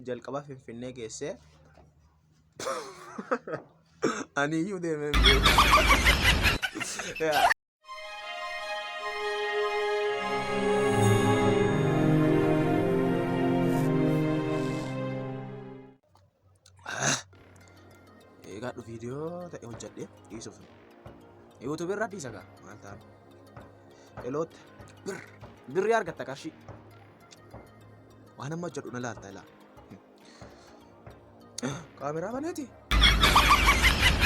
jalqaba Finfinnee geessee aniyyuu deemee hin beeku. Yaa. Eegaadhu viidiyoo ta'e hojjedhee dhiisuuf. Yuutuubii irraa dhiisa gaa maal ta'an. Eloota bir birrii argatta qarshii. Waan amma hojjedhu na laalta ilaa. Kaameraa baneeti.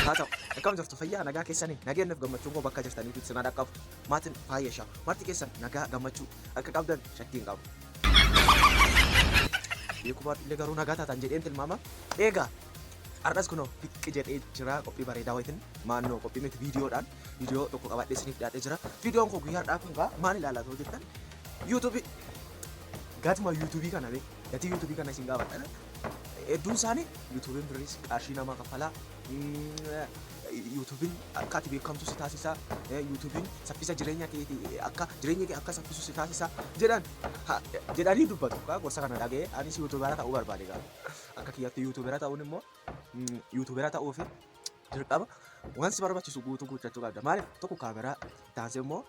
Haa ta'u, akkam jirtu fayyaa nagaa keessanii nageenyi fi gammachuun koo bakka jirtaniif ibsinaa dhaqqabu. Maatiin faayya ishaa marti keessan nagaa gammachuu akka qabdan shakkii hin qabu. Beekumaan illee garuu nagaa taatan jedheen tilmaama. Eegaa har'as kunoo biqqi jedhee jira qophii bareedaa wayitiin maannoo qophii miti viidiyoodhaan Viidiyoo tokko qabaadhee isiniif dhiyaatee jira. Viidiyoon koo guyyaa har'aa kun egaa maal ilaalaa ta'uu jettan? YouTube gatuma YouTube kana bee gatii YouTube kana isin gaafadha. Hedduun isaanii YouTube birriis qarshii namaa kaffalaa. YouTube'n akka ati beekamtu si taasisa. YouTube'n saffisa jireenya kee akka jireenya kee akka saffisu si taasisa jedhan jedhanii dubbatu. Kaa gorsa kana dhaga'ee anis YouTubera ta'uu barbaade gaa. Akka kiyyatti YouTubera ta'uun immoo YouTubera ta'uu fi jalqaba wanti barbaachisu guutuu guuttachuu qabda. Maaliif tokko kaameraa taansee immoo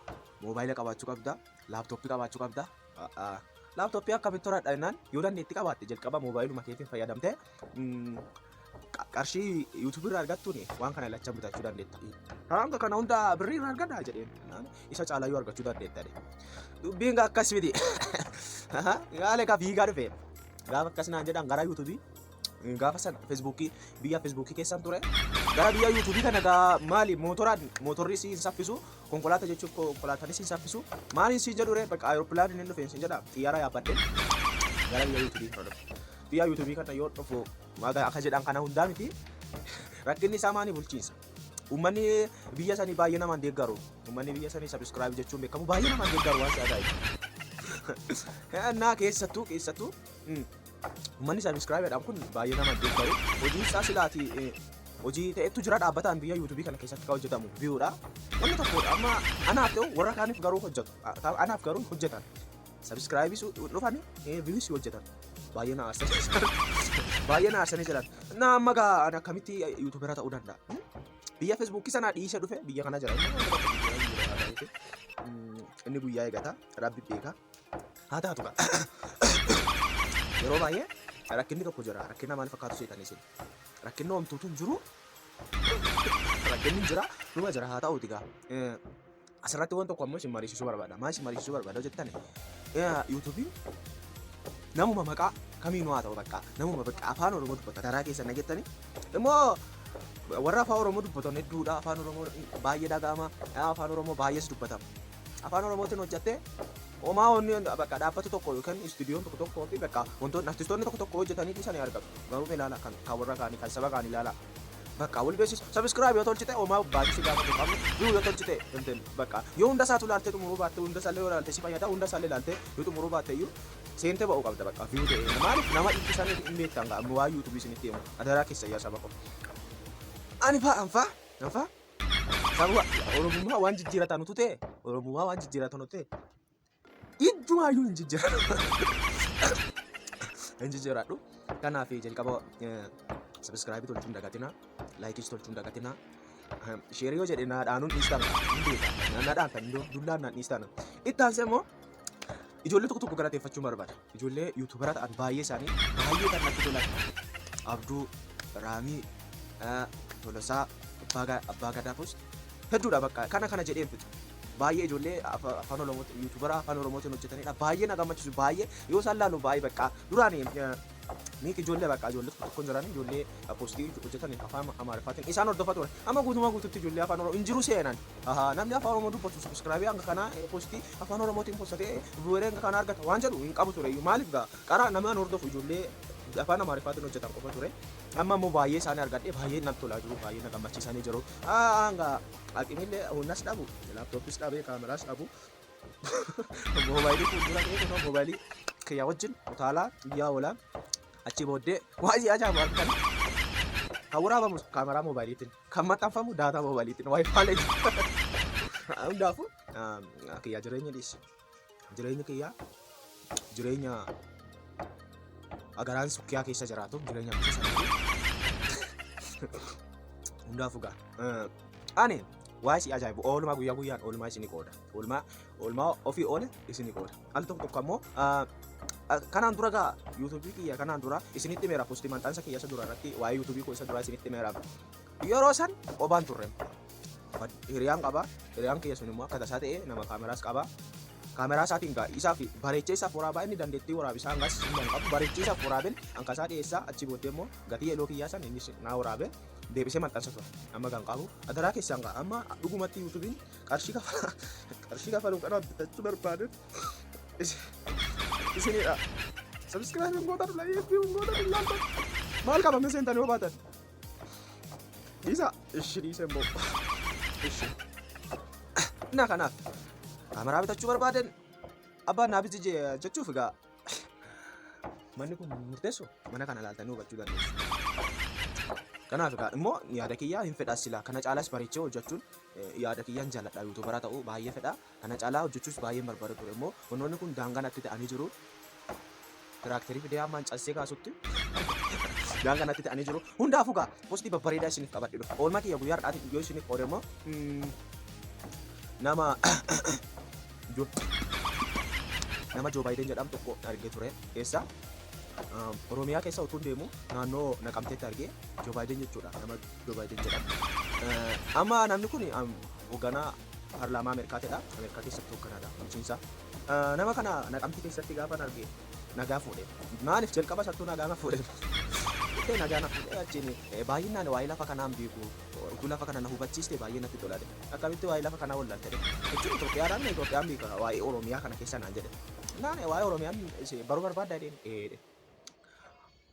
moobaayila qabaachuu qabda, laaptooppii qabaachuu qabda. Laaptooppii akkamitti horadha jennaan yoo dandeetti qabaatte jalqaba moobaayiluma keetiin fayyadamte qarshii yuutuubii irraa argattuun waan kana lachan bitachuu dandeetta. Hanga kana hunda birrii irraa argadha jedheen isa caalaa yoo argachuu dandeetta. Dubbiin akkas miti. Yaale ka fiigaa dhufe. Gaafa akkas naan jedhan gara yuutuubii gaafa sana feesbuukii biyya feesbuukii keessan ture gara biyya yuutuubii kana gaa maali mootoraan mootorri si hin saffisu konkolaataa jechuun konkolaataanis hin saffisu maaliin si jedhu ree bakka aeroppilaaniin hin dhufeen si jedha xiyyaara yaabbadhee gara biyya yuutuubii kana dhufe biyya yuutuubii kana yoo dhufu maga akka jedhan kana hundaa miti rakkinni isaa maani bulchiinsa uummanni biyya sanii baay'ee namaan deeggaru uummanni biyya sanii sabiskiraayib jechuun beekamu baay'ee namaan deeggaru waan si ajaa'ibu. Naa keessattuu keessattuu Uummanni sabiskiraayibeedhaan kun baay'ee nama deeggaru. Hojii isaa silaati hojii ta'etu jira dhaabbataan biyya yuutuubii kana keessatti kan hojjetamu viyuudha. Wanni tokko amma anaaf ta'u warra kaaniif garuu hojjetu. Anaaf garuu hojjetan. Sabiskiraayibii dhufan viyuus hojjetan. Baay'ee na aarsanii jiran. Baay'ee na aarsanii jiran. Na amma gaa ani akkamitti yuutuubera ta'uu danda'a? Biyya feesbuukii sanaa dhiisee dhufe biyya kana jira. Inni guyyaa eegata. Rabbi beeka. Haa taatu kaa. Yeroo baay'ee rakkinni tokko jira. Rakkina maal fakkaatu seetan isin? Rakkinni homtuutu hin jiru. Rakkinni hin jira. Dhuma jira haa ta'uuti gaa. Eh, Asirratti waan tokko ammoo isin mariisisuu barbaada. Maal isin mariisisuu barbaada jettan? Yuutuubiin namuma maqaa kamiinuu haa ta'u bakka namuma bakka afaan oromoo dubbata garaa keessan dhagettani immoo warra afaan oromoo dubbatan hedduudha afaan oromoo baay'ee dhaga'ama afaan oromoo baay'ees dubbatama Afaan Oromootiin hojjattee homaa wanni bakka dhaabbata tokko yookiin istuudiyoon tokko tokkoo fi bakka wantoonni artistoonni tokko tokko hojjetanii dhiisan ni argatu. Garuu ilaala kan kan warra kaanii kan saba kaanii ilaala. Bakka wal beeksisa. Sabiskiraayib yoo tolchite homaa baasii si gaafatu hin qabne. Viyuu yoo tolchite intin bakka yoo hunda isaatu ilaaltee xumuruu baatte hunda isaallee yoo ilaalte si fayyada hunda isaallee ilaaltee yoo xumuruu baatte iyyuu seentee ba'uu qabda bakka viyuu ta'e. Maaliif nama dhiichisan hin beektan ga'a waan yuutuubii isinitti himu adaraa keessa yaa saba koo. Ani faa anfaa anfaa. Sababa Oromummaa waan jijjiiratan utuu ta'e, Oromummaa waan jijjiiratan utuu ta'e, ijjumaayyuu hin jijjiiratu. Hin jijjiiradhu. Kanaaf jalqaba sabiskiraayibii tolchuun dagatinaa, laayikiis tolchuun dagatinaa. Sheerii yoo jedhe naa dhaanuun dhiistan hin beeka. Naa dhaantan, dullaan naan dhiistan. Itti aansee immoo ijoollee tokko tokko galateeffachuu barbaada. Ijoollee yuutuubaraa ta'an baay'ee isaanii baay'ee kan natti tolan Abduu, Raamii, eh, Tolosaa, Abbaa Ga- Abbaa Gadaafus hedduudha bakka kana kana jedheen fixu. Baay'ee ijoollee afa- afaan Oromootiin yuutuubaraa afaan Oromootiin hojjetanidha. Baay'ee na gammachiisu baay'ee yoo isaan laalu baay'ee bakka duraan eh, miik ijoollee bakka ijoollee tokko tokko hin jiran ijoollee eh, postii hojjetan afaan Amaariffaatiin isaan hordofa ture. Amma guutumaa guututti ijoollee afaan Oromoo hin jiru seenan. Ahaa, Namni afaan Oromoo dubbatu subscribe hanga kanaa eh, postii Afaan Oromootiin kun sagalee Wereenga kana argata waan jedhu hin qabu tureyyuu maaliif gaa qaraa namaan hordofu ijoollee afaan Amaariffaatiin hojjetan qofa ture. Amma immoo baay'ee isaanii argadhee baay'ee natti tolaa jiru baay'ee na gammachiisanii jiru. Hanga aqimillee humnas dhabu laaptooppis dhabee kaameraas dhabu moobaayilii fuuldura ta'ee kunoo moobaayilii kiyya wajjin utaalaa guyyaa oolaa achii booddee waa'ee ajaa'ibu argatan kan waraabamu kaameraa moobaayiliitiin. Kan maxxanfamu daataa moobaaliitiin waayifaalee hundaafuu kiyyaa jireenya dhiisi. Jireenyi kiyyaa jireenya agaraan sukkiyaa keessa jiraatu jireenya keessa hundaafuu gaa. Ani waa si ajaa'ibu oolmaa guyyaa guyyaan oolmaa isinii qooda. Oolmaa oolmaa ofii oole isinii qooda. al tokko tokko ammoo kanaan dura gaa yuutuubii kiyya kanaan dura isinitti meera posti maxxansa kiyya isa dura irratti waa'ee yuutuubii koo isa dura isinitti meera yeroo san qobaan turre hiriyaan qaba hiriyaan kiyya sun immoo akka tasaa ta'e nama kaameraas qaba kaameraa isaatiin gaa isaa fi bareechee isaaf waraabaa inni dandeettii waraabisaa hangas hin qabu bareechee isaaf waraabin hankasaa dhiyeessaa achi booddee immoo gatii eloo kiyyaa san innis naa waraabe deebisee maxxansa ture amma kan qabu adaraa keessaan gaa amma dhugumatti yuutuubiin qarshii kafala qarshii kafaluun kana bitachuu barbaadun isinidha sabskiraayibiin gootan laayikii gootan ilaaltan maal qaba mee seentanii yoo baatan dhiisa ishi dhiise immoo ishi na kanaaf kaameraa bitachuu barbaadan abbaan naa biji jechuuf egaa manni kun murteessu mana kana ilaaltanii hubachuu dandeessu. Kanaaf egaa immoo yaada kiyyaa hin fedhas silaa kana caalaas bareechee hojjechuun yaada kiyyaan jaaladha yuutuubaraa ta'uu baay'ee fedha kana caalaa hojjechuus baay'een barbaada ture immoo wantoonni kun daangaa natti ta'anii jiru tiraakterii fidee hammaan cassee kaasutti daangaa natti ta'anii jiru hundaafuu gaa postii babbareedaa isiniif qabadhe dhufe oolmaa kiyya guyyaa har'aatiif yoo isiniif qoode immoo mm, nama jo- nama Joo Baayiden jedhamu tokko argee ture keessa Oromiyaa keessa utuun deemu naannoo naqamteetti argee Joo Baayiden jechuudha nama Joo Baayiden jedhama. Amma namni kun hoogganaa paarlaamaa Ameerikaatidha. Ameerikaa keessatti hoogganadha bulchiinsa. Nama kana naqamtii keessatti gaafa arge nagaa fuudhe. Maaliif jalqaba sattuu nagaa na fuudhe? Jettee nagaa na fuudhe achiin baay'inaan waa'ee lafa kanaan beeku. Utuu lafa kana na hubachiiste baay'ee natti tolaadhe. Akkamitti waa'ee lafa kanaa wallaalte jedhe. Jechuun Itoophiyaadhaan Itoophiyaan beeka waa'ee Oromiyaa kana keessa naan jedhe. Naan waa'ee Oromiyaan baruu barbaadda jedheen.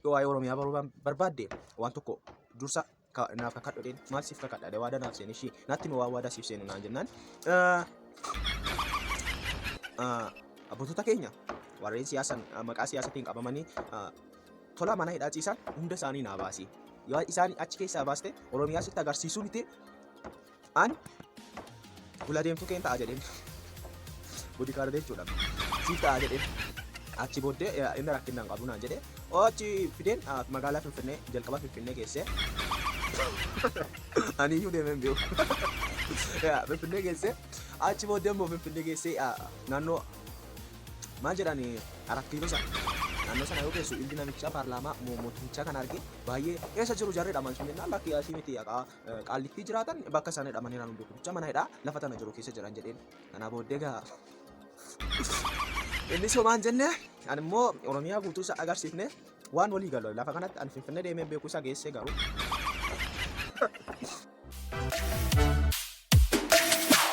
yoo waa'ee Oromiyaa baruu baan- barbaadde waan tokko dursa ka- naaf kakadhu jedheen maal siif kakadha jedhee waadaa naaf seene ishii natti himi waan waadaa siif seenu naan jennaan eh, eh, abbootota keenya warreen siyaasan eh, maqaa siyaasatiin qabamanii eh, tola mana hidhaa ciisan hunda isaanii naa baasi yoo isaan achi keessaa baaste Oromiyaa sitti agarsiisuu miti An gula deemtuu keen ta'a jedheen. Boodikaardee jechuudha. Siif ta'a jedheen. Achi booddee eh, inni rakkinna hin qabu naan jedhee. Oo achi fideen ah, magaalaa Finfinnee jalqaba Finfinnee geessee. Ani iyyuu deemee hin beeku. Yaa, Finfinnee geessee. Achi booddee immoo Finfinnee geessee ah, naannoo maal jedhani arat kiiloo sana naannoo sana yoo geessu ilmi namichaa paarlaamaa mo- mootumichaa kan arge baay'ee eessa jiru jarri dhaman sun jennaan lakki asii miti haqaa Qaallittii jiraatan bakka isaan hidhamanii jiran hunduu bicha mana hidhaa lafa tana jiru keessa jiran jedheen. Kanaa booddee gaa inni somaan jenne ani immoo Oromiyaa guutuu isa agarsiifne waan walii galu lafa kanatti ani Finfinnee deemee beeku isa geessee garuu